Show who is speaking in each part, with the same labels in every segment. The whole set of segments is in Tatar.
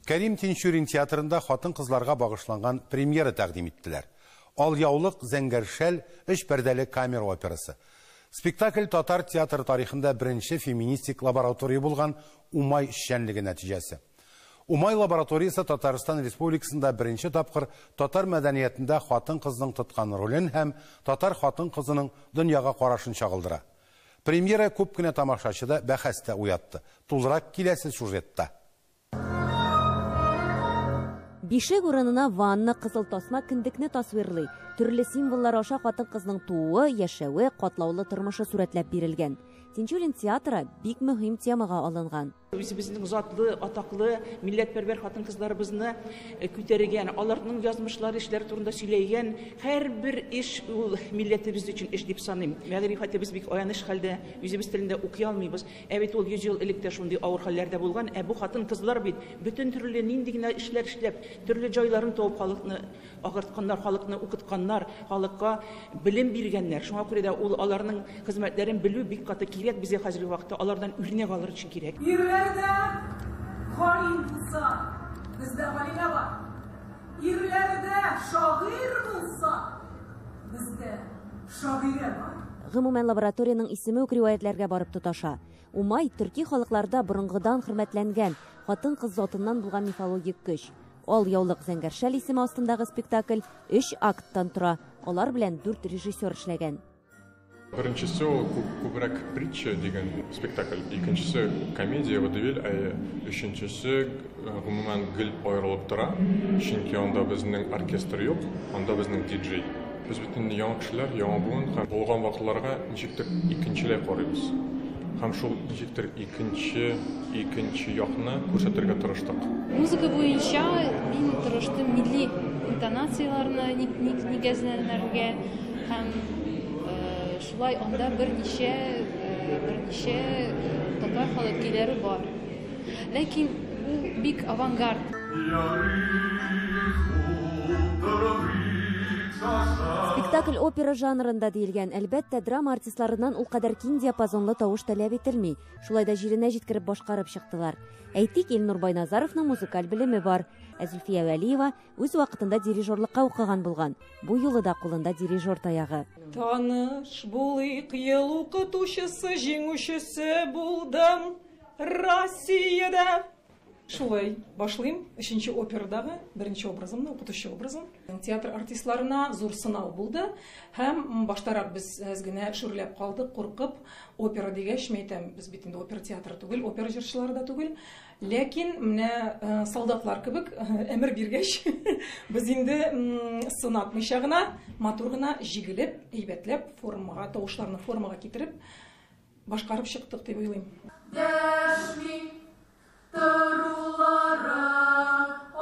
Speaker 1: Кәрим Тинчурин театрында хатын-кызларга багышланган премьера тәкъдим иттеләр. Алъяулык, Зәңгәр шәл, өч пәрдәле камера операсы. Спектакль татар театры тарихында беренче феминистик лаборатория булган Умай эшчәнлеге нәтиҗәсе. Умай лабораториясе Татарстан Республикасында беренче тапкыр татар мәдәниятендә хатын-кызның тоткан ролен һәм татар хатын-кызының дөньяга карашын чагылдыра. Премьера күп кенә тамашачыда бәхәс тә уятты. Тулырак киләсе сюжетта.
Speaker 2: Бишек урынына ванна, кызыл тасма кендекне тасвирлый. Төрле символлар аша хатын-кызның тууы, яшәве, катлаулы тормышы сурәтләп бирелгән. Тинчурин театры бик мөһим темага алынган. Үзебезнең затлы,
Speaker 3: атаклы, милләтпәрвәр хатын-кызларыбызны э, күтәргән, аларның язмышлары, эшләре турында сөйләгән һәрбер эш ул милләтебез өчен эш дип саныйм. Мәгърифәтебез бик аяныч хәлдә, үзебез телендә укый алмыйбыз. Ә бит ул 100 ел элек тә шундый авыр хәлләрдә булган. Ә бу хатын-кызлар бит бөтен төрле нинди генә эшләр эшләп, төрле җайларын табып халыкны Агартканнар, халыкны укытканнар, халыкка белем биргәннәр. Шуңа күрә дә ул аларның хезмәтләрен белү бик каты кирәк безгә хәзерге вакытта, алардан үрнәк алыр өчен кирәк. Ирләрдә галим
Speaker 4: булса, бездә галимә бар. Ирләрдә шагыйрь булса, бездә шагыйрә бар. Гомумән, лабораториянең
Speaker 2: исеме үк риваятьләргә барып тоташа. Умай, төрки халыкларда борынгыдан хөрмәтләнгән, хатын-кыз затыннан булган мифологик көч. Ал яулык зәңгәр шәл исеме астындагы спектакль өч акттан тора. Алар белән дүрт режиссер эшләгән. Беренчесе
Speaker 5: ул күбрәк притча дигән спектакль, икенчесе комедия водевиль, ә өченчесе гомумән гел аерылып тора, чөнки анда безнең оркестр юк, анда безнең диджей. Без бит инде яңа кешеләр, яңа буын һәм булган вакыйгаларга ничектер икенчеләй карыйбыз. Һәм шул ничектер икенче, икенче якны күрсәтергә тырыштык. Музыка буенча
Speaker 6: мин тырыштым милли интонацияләрне нигезләндерергә һәм шулай анда берничә, берничә татар халык көйләре бар. Ләкин ул бик авангард.
Speaker 2: Спектакль опера жанрында диелгән, әлбәттә, драма артистларыннан ул кадәр киң диапазонлы тавыш таләп ителми. Шулай да җиренә җиткереп башкарып чыктылар. Әйтик, Илнур Байназаровның музыкаль белеме бар. Ә Зөлфия Вәлиева үз вакытында дирижерлыкка укыган булган. Бу юлы да кулында дирижер таягы. Таныш
Speaker 4: булыйк, ел укытучысы, җиңүчесе булдым. Россиядә! Шулай башлыйм. Өченче операдагы беренче образымны, укытучы образын. Театр артистларына зур сынау булды. Һәм баштарак без әз генә шүрләп калдык, куркып. Опера дигәч, мин әйтәм, без бит инде опера театры түгел, опера җырчылары да түгел. Ләкин менә э, солдатлар кебек әмер э, биргәч, без инде сынатмыйча гына, матур гына җигелеп, әйбәтләп формага, тавышларны формага китереп, Башкарып чыктык дип уйлыйм. Дәшми торулары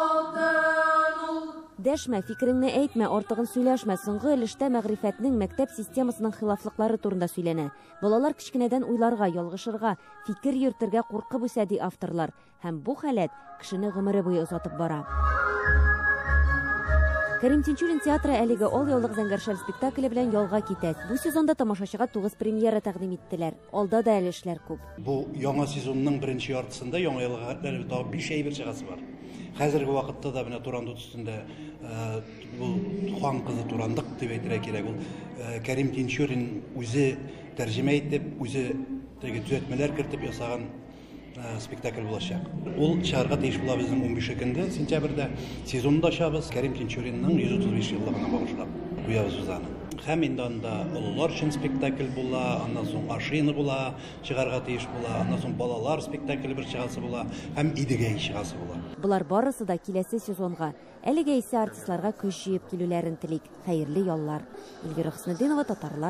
Speaker 2: алтын ул. Дәшмә, фикереңне әйтмә, артыгын сөйләшмә, соңгы өлештә мәгърифәтнең, мәктәп системасының хилафлыклары турында сөйләнә. Балалар кечкенәдән уйларга, ялгышырга, фикер йөртергә куркып үсә, ди авторлар. Һәм бу халәт кешене гомере буе озатып бара. Кәрим Тинчурин театры әлеге Ал яулык зәңгәршәл спектакле белән ялга китә. Бу сезонда тамашачыга тугыз премьера тәкъдим иттеләр. Алда да әле эшләр күп. Бу яңа
Speaker 7: сезонның беренче яртысында яңа елга хәтле тагы биш әйбер чыгасы бар. Хәзерге вакытта да менә Турандык өстендә э, бу Тухан кызы Турандык дип әйтергә кирәк. Ул э, Кәрим Тинчурин үзе тәрҗемә итеп, үзе теге төзәтмәләр кертеп ясаган Э, спектакль булачак. Ул чыгарга тиеш була безнең 15-нде сентябрьдә. Сезонны да ачабыз Кәрим Тинчуринның 135 еллыгына багышлап куябыз без аны. Һәм инде анда олылар өчен спектакль була, аннан соң ашина була, чыгарга тиеш була, аннан соң балалар спектакле бер чыгасы була һәм Идегәй чыгасы була. Болар барысы да
Speaker 2: киләсе сезонга. Әлегә исә артистларга көч җыеп килүләрен телик. Хәерле яллар. Эльвира Хөснетдинова, татарлар.